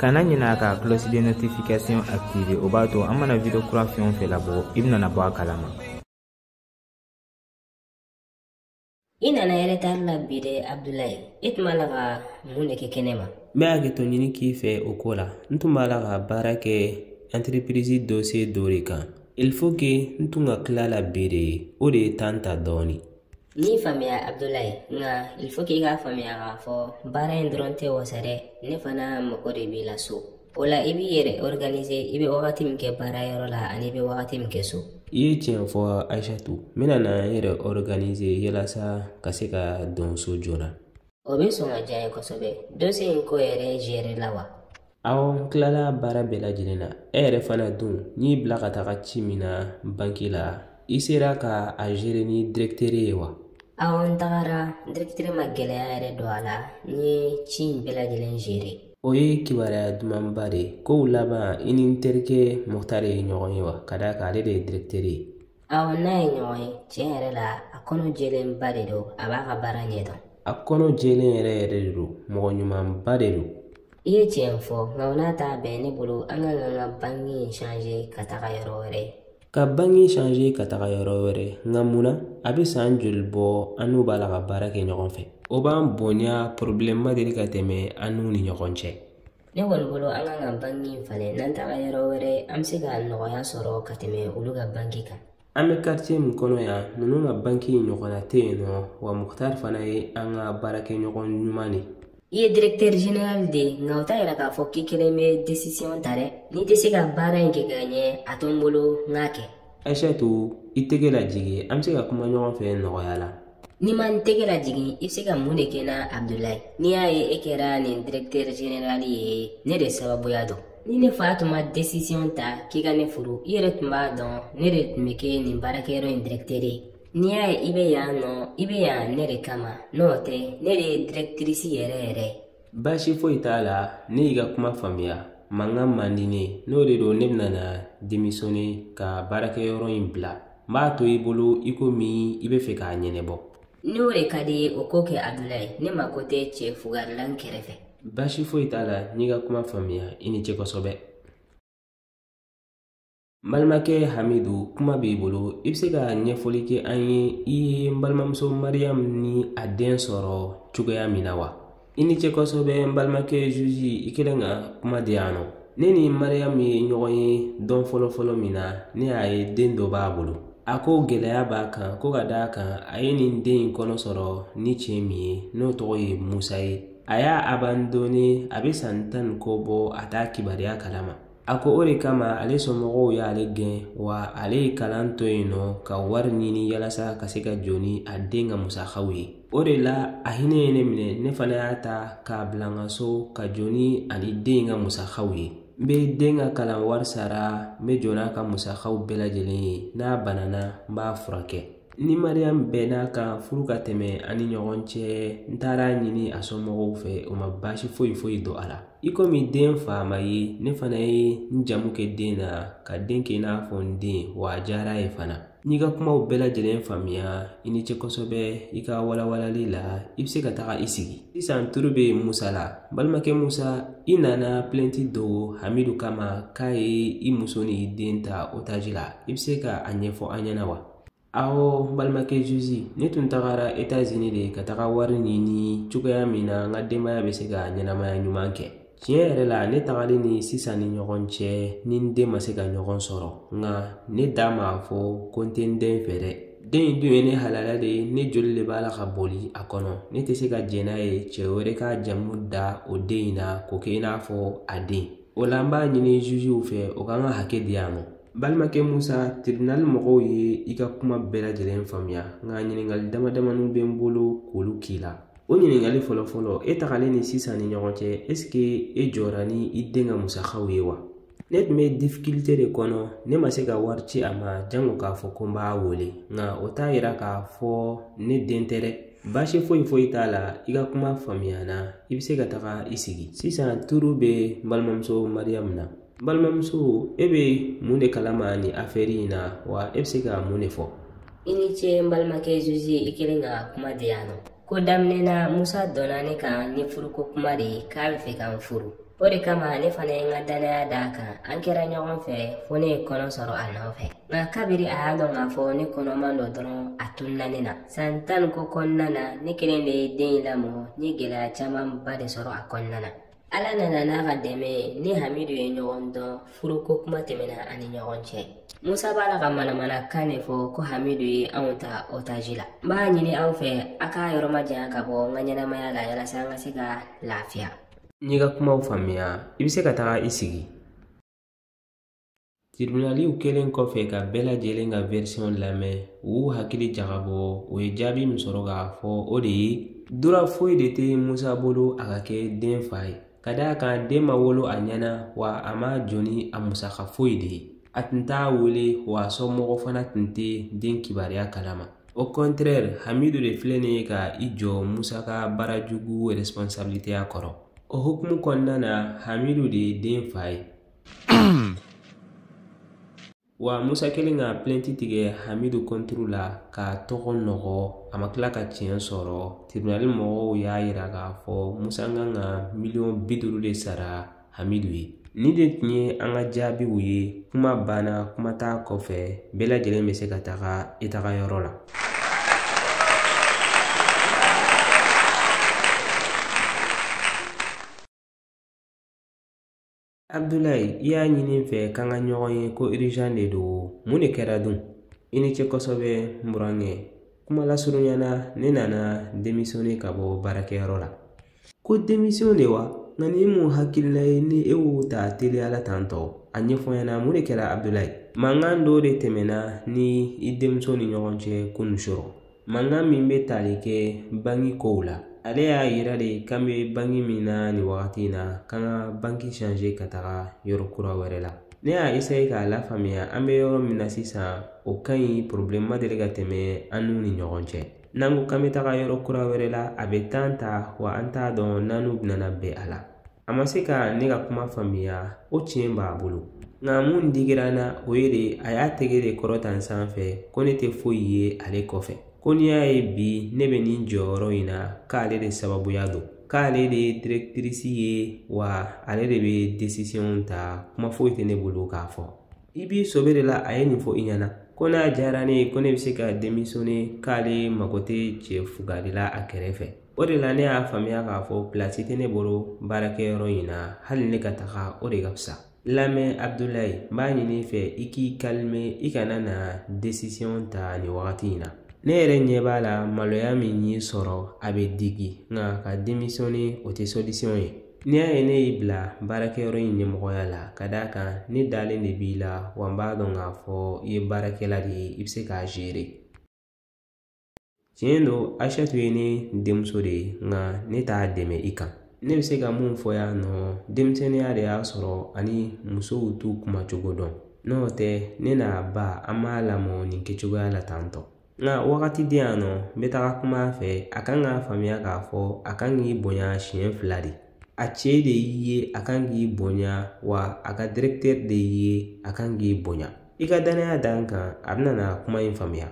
kana ɲina ka cloche de notification activer o b'a to an mana video kura fɛn o fɛn labɔ i bɛna bɔ a kalama i nana yɛrɛ tari la bi dɛ abdulayi i tun b'a la ka mun de kɛ kɛnɛ ma n bɛ hakɛto ɲini k'i fɛ o ko la n tun b'a la ka baara kɛ entreprise dossier dɔ de kan il faut que n tun ka tila la bi de ye o de ye temps ta dɔɔnin n'i faamuya abdulayi nka il faut k'i k'a faamuya k'a fɔ baara in dɔrɔn tɛ wasa dɛ ne fana mago de b'i la so o la i b'i yɛrɛ organiser i bɛ wagati min kɛ baara yɔrɔ la ani i bɛ wagati min kɛ so i ye tiɲɛ fɔ ayisatu n bɛna na n yɛrɛ organiser yalasa ka se ka don so joona o bɛ sɔn ka diya n ye kosɛbɛ dossier in ko yɛrɛ gérer la wa awɔ n tilala baara bɛɛ lajɛlen na e yɛrɛ fana dun n'i bila ka taga ci min na banki la i sera ka a gérer ni direkiteri ye wa awɔ n tagara direkiteri ma gɛlɛya yɛrɛ don a la n ye ci in bɛɛ lajɛlen gérer o ye kibaruya dumanba de ye kow laban i ni n terikɛ mukutari ye ɲɔgɔn ye wa ka d'a kan ale de ye direkiteri ye awɔ n'a ye ɲɔgɔn ye tiɲɛ yɛrɛ la a kɔnɔ jɛlenba de don a b'a ka baara ɲɛ dɔn a kɔnɔ jɛlen yɛrɛ yɛrɛ de don mɔgɔ ɲumanba de don i ye tiɲɛ fɔ nka o n'a ta bɛɛ ne bolo an ka kan ka banki in changer ka taga yɔrɔ wɛrɛ ka banki changer ka taga yɔrɔ wɛrɛ nka mun na a bɛ san joli bɔ an n'u b'a la ka baara kɛ ɲɔgɔn fɛ u b'an bonya porobilɛmu ma deli ka tɛmɛ an n'u ni ɲɔgɔn cɛ ne kɔni bolo an ka kan ka banki in falen n'an taga yɔrɔ wɛrɛ an bɛ se ka nɔgɔya sɔrɔ ka tɛmɛ olu ka banki kan an bɛ quartier min kɔnɔ yan ninnu ka banki ɲɔgɔnna tɛ yen nɔ wa mukutari fana ye an ka baarakɛɲɔgɔn ɲuman de i ye directeur general de ye nka o t'a yira k'a fɔ k'i kelen bɛ decision ta dɛ n'i tɛ se ka baara in kɛ ka ɲɛ a to n bolo n k'a kɛ ayisatu i tɛgɛ lajigin an bɛ se ka kuma ɲɔgɔn fɛ nɔgɔya la Ni n ma n tɛgɛ lajigin i bɛ se ka mun de kɛ n na abdulayi n'i y'a ye e kɛra nin directeur general ye ne de sababuya don ni ne fa tun ma decision ta k'i ka ne furu i yɛrɛ tun b'a dɔn ne de tun bɛ kɛ nin baarakɛyɔrɔ in directeur ye n'i y'a ye i bɛ yan nɔ i bɛ yan ne de kama n'o tɛ ne de ye directrice yɛrɛ yɛrɛ ye baasi foyi t'a la ne y'i ka kuma faamuya mankan man di n ye n'o de don ne bɛna na démissionner ka baarakɛyɔrɔ in bila n b'a to i bolo i komi i bɛ fɛ k'a ɲɛnabɔ ni o de ka di i ye o ko kɛ abdulayi ne mako tɛ cɛ fugari la n kɛrɛfɛ baasi foyi t'a la n'i ka kuma faamuya i ni ce kosɛbɛ n balimakɛ hamidu kuma b'i bolo i bɛ se ka ɲɛfɔli kɛ an ye i ye n balimamuso mariyamu ni a den sɔrɔ cogoya min na wa i ni ce kosɛbɛ n balimakɛ zuzi i kɛlen ka kuma di yan nɔ ne ni mariyamu ye ɲɔgɔn ye dɔn fɔlɔfɔlɔ min na ne y'a ye den dɔ b'a bolo a ko gɛlɛya b'a kan ko ka d'a kan a ye nin den in kɔnɔ sɔrɔ ni cɛ min ye n'o tɔgɔ ye musa ye a y'a abandone a bɛ san tan ni kɔ bɔ a t'a kibaruya kalama a ko o de kama ale somɔgɔw y'ale gɛn wa ale ye kalan to yen nɔ ka wari ɲini yalasa ka se ka jɔ ni a den ka musakaw ye o de la a hinɛ ye ne minɛ ne fana y'a ta k'a bila n ka so ka jɔ ni a ni den ka musakaw ye n bɛ den ka kalan wari sara n bɛ jɔ n'a ka musakaw bɛɛ lajɛlen ye n'a banana n b'a furakɛ ni mariyamu bɛnna a kan furu ka tɛmɛ an ni ɲɔgɔn cɛ n tagara a ɲini a somɔgɔw fɛ o ma baasi foyi foyi don a la i komi den fa ma ye ne fana ye n jamu kɛ den na ka den kɛ i n'a fɔ n den wa a diyara a ye fana n'i ka kumaw bɛɛ lajɛlen faamuya i ni ce kosɛbɛ i ka walawalali la i bɛ se ka taga i sigi sisan turu bɛ musa la balimakɛ musa i nana pilɛnti don hamidu kama k'a ye i muso ni i den ta otaji la i bɛ se ka a ɲɛfɔ an ɲɛna wa awɔ balimakɛ zuzi ne tun tagara etazini de ka taga wari ɲini cogoya min na n ka denbaya bɛ se ka ɲɛnamaya ɲuman kɛ tiɲɛ yɛrɛ la ne tagali ni sisan ni ɲɔgɔn cɛ ni n den ma se ka ɲɔgɔn sɔrɔ nka ne da m'a fɔ ko n tɛ n den fɛ dɛ den in dun ye ne halala de ye ne joli de b'a la ka boli a kɔnɔ ne tɛ se ka jɛn n'a ye cɛ wɛrɛ ka jamu da o den in na k'o kɛ i n'a fɔ a den o la n b'a ɲini zuziw fɛ o ka n ka hakɛ di yan nɔ balimakɛ musa tribinali mɔgɔw ye i ka kuma bɛɛ lajɛlen faamuya nka ɲininkali damadamani bɛ n bolo k'olu k'i la o ɲininkali fɔlɔfɔlɔ e tagalen ni sisan ni ɲɔgɔn cɛ esike e jɔra ni i den ka musakaw ye wa ne tun bɛ difikilite de kɔnɔ ne ma se ka wari ci a ma jango k'a fɔ ko n b'a wele nka o t'a yira k'a fɔ ne den tɛ dɛ baasi foyi foyi t'a la i ka kuma faamuyana i bɛ se ka taga i sigi sisan turu bɛ n balimamuso mariyamu na n balimamuso e bɛ mun de kalama nin afɛri in na wa e bɛ se ka mun de fɔ i ni ce n balimakɛ zuzi i kɛlen ka kuma di yan nɔ ko daminɛ na musa donna ne kan ni furuko kuma de ye k'a b'a fɛ ka n furu o de kama ne fana ye n ka dannaya d'a kan an kɛra ɲɔgɔn fɛ fo ne ye kɔnɔ sɔrɔ a nɔfɛ nka kabiri a y'a dɔn k'a fɔ ne kɔnɔman don dɔrɔn a tununa ne na san tan ni kɔ kɔnɔna na ne kelen de ye den in lamɔ n ye gɛlɛya camanba de sɔrɔ a kɔnɔna na ala nana n'a ka dɛmɛ ye ni hamidu ye ɲɔgɔn dɔn furuko kuma tɛmɛna an ni ɲɔgɔn cɛ musa b'a la ka manamanakan de fɔ ko hamidu ye anw ta otaji la n b'a ɲini aw fɛ a k'a yɔrɔ majanya ka bɔ n ka ɲɛnamaya la yalasa an ka se ka lafiya n'i ka kumaw faamuya i bɛ se ka taga i sigi Tiribinaliw kɛlen kɔfɛ ka bɛɛ lajɛlen ka wɛrisɔn lamɛn u y'u hakili jagabɔ u ye jaabi min sɔrɔ k'a fɔ o de ye dura foyi de tɛ musa bolo a ka kɛ den fa ye ka d'a kan den ma wolo a ɲɛna wa a ma jɔ ni a musaka foyi de ye a tun t'a wele wa a somɔgɔ fana tun tɛ den kibaruya kalama o kɔntrɛri hamidu de filɛ nin ye ka i jɔ musa ka baarajugu responsabiliteya kɔrɔ o hukumu kɔnɔna na hamidu de ye den fa ye wa musa kɛlen ka plɛnti tigɛ hamidu kɔnturu la k'a tɔgɔ nɔgɔ a ma tila ka tiɲɛ sɔrɔ tiribinali mɔgɔw y'a yira k'a fɔ musa kan ka miliyɔn bi duuru de sara hamidu ye nin de tun ye an ka jaabiw ye kuma banna kuma t'a kɔfɛ bɛɛ lajɛlen bɛ se ka taga i taga yɔrɔ la abudulayi i y'a ɲini n fɛ k'an ka ɲɔgɔn ye ko irizan de don mun de kɛra dun i ni ce kosɛbɛ n burankɛ kuma lasurunya na ne nana demisiyɔne ka bɔ baarakɛyɔrɔ la ko demisiyɔn de wa nka ni mun hakilila ye ni e y'o ta teliya la tan tɔ a ɲɛfɔ n ɲɛna mun de kɛra abudulayi mankan dɔ de tɛmɛna n ni i denmuso ni ɲɔgɔn cɛ kunun surɔ mankan min bɛ tali kɛ banki kow la ale y'a yira de k'an bɛ banki min na nin wagati in na k'an ka banki sanze ka taga yɔrɔ kura wɛrɛ la ne y'a eseye k'a lafaamuya an bɛ yɔrɔ min na sisan o ka ɲi pɔrɔbulɛmu ma deli ka tɛmɛ an n'u ni ɲɔgɔn cɛ n'an ko k'an bɛ taga yɔrɔ kura wɛrɛ la a bɛ tan ta wa an t'a dɔn n'an n'u bɛna bɛn a la a ma se ka ne ka kuma faamuya o tiɲɛ b'a bolo nka mun digira n na o ye de a y'a tɛgɛ de kɔrɔta n sanfɛ ko ne tɛ foyi ye ale kɔfɛ ko n'i y'a ye bi ne bɛ nin jɔyɔrɔ in na k'ale de sababuya don k'ale de ye dirɛkitirisi ye wa ale de bɛ desisiyɔn ta kuma foyi tɛ ne bolo k'a fɔ i b'i sɔbɛ de la a ye nin fɔ i ɲɛna ko n'a diyara ne ye ko ne bɛ se ka demisiyɔne k'ale mago tɛ cɛ fugari la a kɛrɛfɛ o de la ne y'a faamuya k'a fɔ pilasi tɛ ne bolo baarakɛyɔrɔ in na hali ne ka taga o de ka fisa lamɛn abudulayi n b'a ɲini i fɛ i k'i kalime i kana na desisiyɔn ta nin wagati in na ne yɛrɛ ɲɛ b'a la maloya min y'i sɔrɔ a bɛ digi nka ka demisiyɔne o tɛ sɔlisiyɔn ye n'i y'a ye ne y'i bila baarakɛyɔrɔ in ɲɛmɔgɔya la ka d'a kan ne dalen de b'i la wa n b'a dɔn k'a fɔ i ye baarakɛla de ye i bɛ se k'a zeere tiɲɛ don ayisatu ye ne denmuso de ye nka ne t'a dɛmɛ i kan ne bɛ se ka mun fɔ yan nɔ denmisɛnninya de y'a sɔrɔ ani musow t'u kuma cogo dɔn n'o tɛ ne n'a ba an m'a lamɔ nin kɛcogoya la tan tɔ nka wagati di yan nɔ n bɛ taga kuma a fɛ a kan k'a faamuya k'a fɔ a kan k'i bonya siɲɛ fila de a cɛ de y'i ye a kan k'i bonya wa a ka dirɛktɛri de y'i ye a kan k'i bonya i ka danaya da n kan a bɛna na kuma in faamuya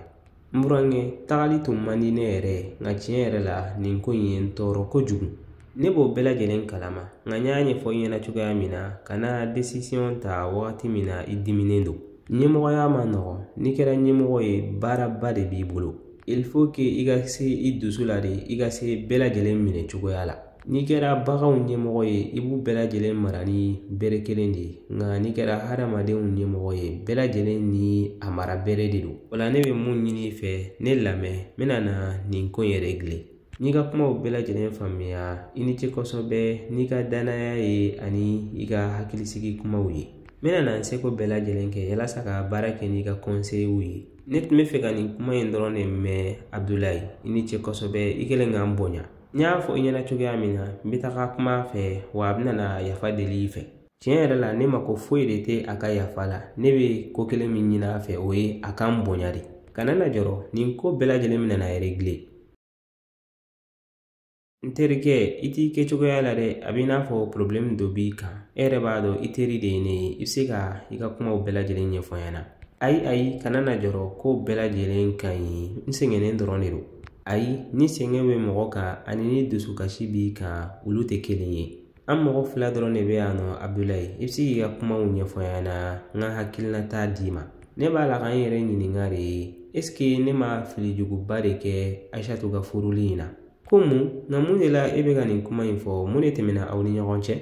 n burankɛ tagali tun man di ne yɛrɛ ye nka tiɲɛ yɛrɛ la nin ko in ye n tɔɔrɔ kojugu ne b'o bɛɛ lajɛlen kalama nka n y'a ɲɛfɔ i ɲɛna cogoya min na kana desisiyɔn ta wagati min na i diminen don ɲɛmɔgɔya man nɔgɔn n'i kɛra ɲɛmɔgɔ ye baaraba de b'i bolo il faut que i ka se i dusu la de i ka se bɛɛ lajɛlen minɛ cogoya la n'i kɛra baganw ɲɛmɔgɔ ye i b'u bɛɛ lajɛlen mara ni bere kelen de ye nka n'i kɛra hadamadenw ɲɛmɔgɔ ye bɛɛ lajɛlen ni a mara bere de don o la ne bɛ mun ɲini i fɛ ne lamɛn n bɛna na nin ko in regile n y'i ka kumaw bɛɛ lajɛlen faamuya i ni ce kosɛbɛ n'i ka danaya ye ani i ka hakilisigi kumaw ye n bɛna na n seko bɛɛ lajɛlen kɛ yalasa ka baara kɛ n'i ka kɔnseyiw ye ne tun bɛ fɛ ka nin kuma in dɔrɔn de mɛn abudulayi i ni ce kosɛbɛ i kɛlen ka n bonya n y'a fɔ i ɲɛna cogoya min na n bɛ taga kuma a fɛ wa a bɛna na yafa deli i fɛ tiɲɛ yɛrɛ la ne mako foyi de tɛ a ka yafa la ne bɛ ko kelen min ɲini a fɛ o ye a ka n bonya de kana na jɔrɔ nin ko bɛɛ lajɛlen bɛna na regile n terikɛ i t'i kɛ cogoya la dɛ a bɛ i n'a fɔ porobilɛmu dɔ b'i kan e yɛrɛ b'a dɔn i teri de ye ne ye i bɛ se ka i ka kumaw bɛɛ lajɛlen ɲɛfɔ n ɲɛna ayi ayi kana na jɔrɔ ko bɛɛ lajɛlen ka ɲi n sɛgɛnnen dɔrɔn de don ayi ni sɛgɛn bɛ mɔgɔ kan ani ni dusukasi b'i kan olu tɛ kelen ye an mɔgɔ fila dɔrɔn de bɛ yan nɔ abudulayi i bɛ se k'i ka kumaw ɲɛfɔ n ɲɛna n ka hakilinata d'i ma ne b'a la ka n yɛrɛ ɲininka de eseke ne ma filijuguba de kɛ ayisatu ka furuli in na ko mun nka mun de la e bɛ ka nin kuma in fɔ mun de tɛmɛna aw ni ɲɔgɔn cɛ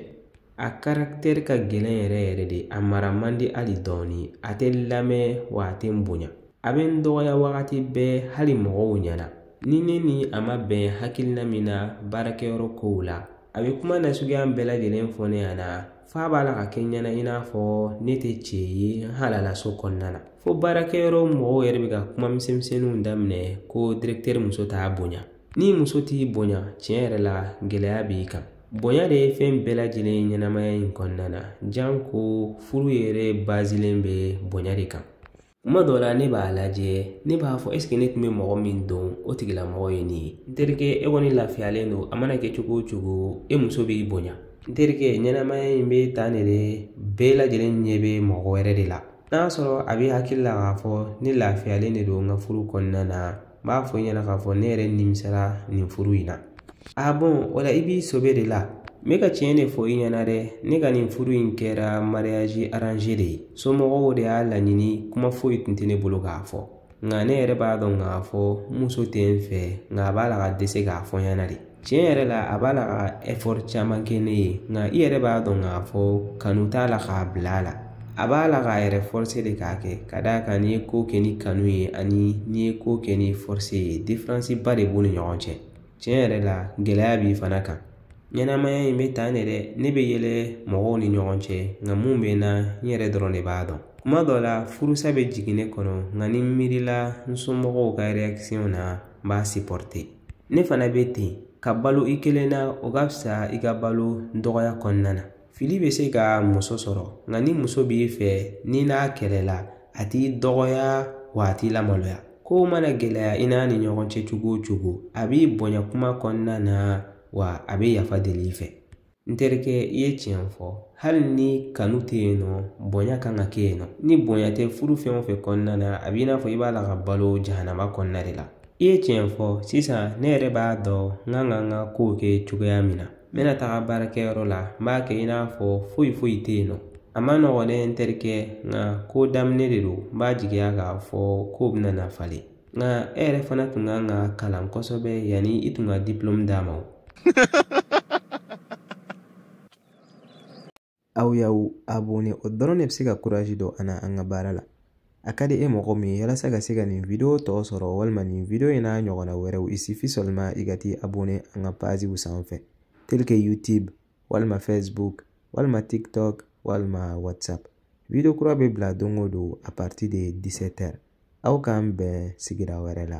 A karaktɛri ka gɛlɛn yɛrɛ yɛrɛ de a mara man di hali dɔɔni a tɛ lamɛn wa a tɛ n bonya a bɛ n dɔgɔya wagati bɛɛ hali mɔgɔw ɲɛna ni ne ni a ma bɛn hakilina min na baarakɛyɔrɔ kow la a bɛ kuma nasuguya bɛɛ lajɛlen fɔ ne ɲɛna f'a b'a la ka kɛ n ɲɛna i n'a fɔ ne tɛ cɛ ye n halala so kɔnɔna na fo baarakɛyɔrɔ mɔgɔw yɛrɛ bɛ ka kuma misɛnmisɛnninw daminɛ ko dirɛktɛri muso t'a bonya ni muso t'i bonya tiɲɛ yɛrɛ la gɛlɛya b'i kan bonya de ye fɛn bɛɛ lajɛlen ye ɲɛnamaya in kɔnɔna na janko furu yɛrɛ bazilen bɛ bonya de kan tuma dɔ la ne b'a lajɛ ne b'a fɔ eseke ne tun bɛ mɔgɔ min dɔn o tigilamɔgɔ ye nin ye n terikɛ e kɔni lafiyalen don a mana kɛ cogo o cogo e muso b'i bonya n terikɛ ɲɛnamaya in bɛ tan de dɛ bɛɛ lajɛlen ɲɛ bɛ mɔgɔ wɛrɛ de la n'a sɔrɔ a b'i hakili la k'a fɔ ne lafiyalen de don n ka furu kɔnɔna na n b'a fɔ i ɲɛna k'a fɔ ne yɛrɛ nimisara nin furu in na bon o la i b'i sobe de la n bɛ ka tiɲɛ de fɔ i ɲɛna dɛ ne ka nin furu in kɛra mariage arrangé de ye somɔgɔw de y'a laɲini kuma foyi tun tɛ ne bolo k'a fɔ nka ne yɛrɛ b'a dɔn k'a fɔ n muso tɛ n fɛ nka a b'a la ka dɛsɛ k'a fɔ n ɲɛna de tiɲɛ yɛrɛ la a b'a la ka ɛfɔri caman kɛ ne ye nka i yɛrɛ b'a dɔn k'a fɔ kanu t'a la k'a bila a la a b'a la k'a yɛrɛ fɔrse de k'a kɛ ka d'a kan n'i ye ko kɛ ni kanu ye ani n'i ye ko kɛ ni fɔrse ye diferansi ba de b'u ni ɲɔgɔn cɛ tiɲɛ yɛrɛ la gɛlɛya b'i fana kan ɲɛnamaya in bɛ tan de dɛ ne bɛ yɛlɛ mɔgɔw ni ɲɔgɔn cɛ nka mun bɛ n na n yɛrɛ dɔrɔn de b'a dɔn kuma dɔ la furusa bɛ jigin ne kɔnɔ nka ni n miirila n somɔgɔw ka réaction na n b'a ne fana bɛ ten ka balo i kelen na o ka fisa i ka balo dɔgɔya kɔnɔna na fili bɛ se ka muso sɔrɔ nka ni muso b'i fɛ n'i n'a kɛlɛla a t'i dɔgɔya wa a t'i lamaloya kow mana gɛlɛya i n'a ni ɲɔgɔn cɛ cogo o cogo a b'i bonya kuma kɔnɔna na wa a bɛ yafa deli i fɛ n terikɛ i ye tiɲɛ fɔ hali ni kanu tɛ yen nɔ bonya kan ka kɛ yen nɔ ni bonya tɛ furu fɛn o fɛn kɔnɔna na a b'i n'a fɔ i b'a la ka balo jahanama kɔnɔna de la i ye tiɲɛ fɔ sisan ne yɛrɛ b'a dɔn n kan ka n ka kow kɛ cogoya min na n bɛna taga baarakɛyɔrɔ la n b'a kɛ i n'a fɔ foyi foyi tɛ yen nɔ a man nɔgɔn dɛ n terikɛ nka ko daminɛ de don n b'a jigiya k'a fɔ ko bɛna na falen nka e yɛrɛ fana tun kan k'a kalan kosɛbɛ yanni i tun ka diplɔmu d'a ma aw y'aw abonné o dɔrɔn de bɛ se ka kurazi don an na an ka baara la a ka di e mɔgɔ min ye yalasa ka se ka nin video tɔ sɔrɔ walima nin video in n'a ɲɔgɔnna wɛrɛw il suffit seulement i ka t'i abonné an ka paziw sanfɛ tel que youtube walima facebook walima tiktok walima whatsapp video kura bɛ bila don o don à partir de 17 heures aw k'an bɛn sigira wɛrɛ la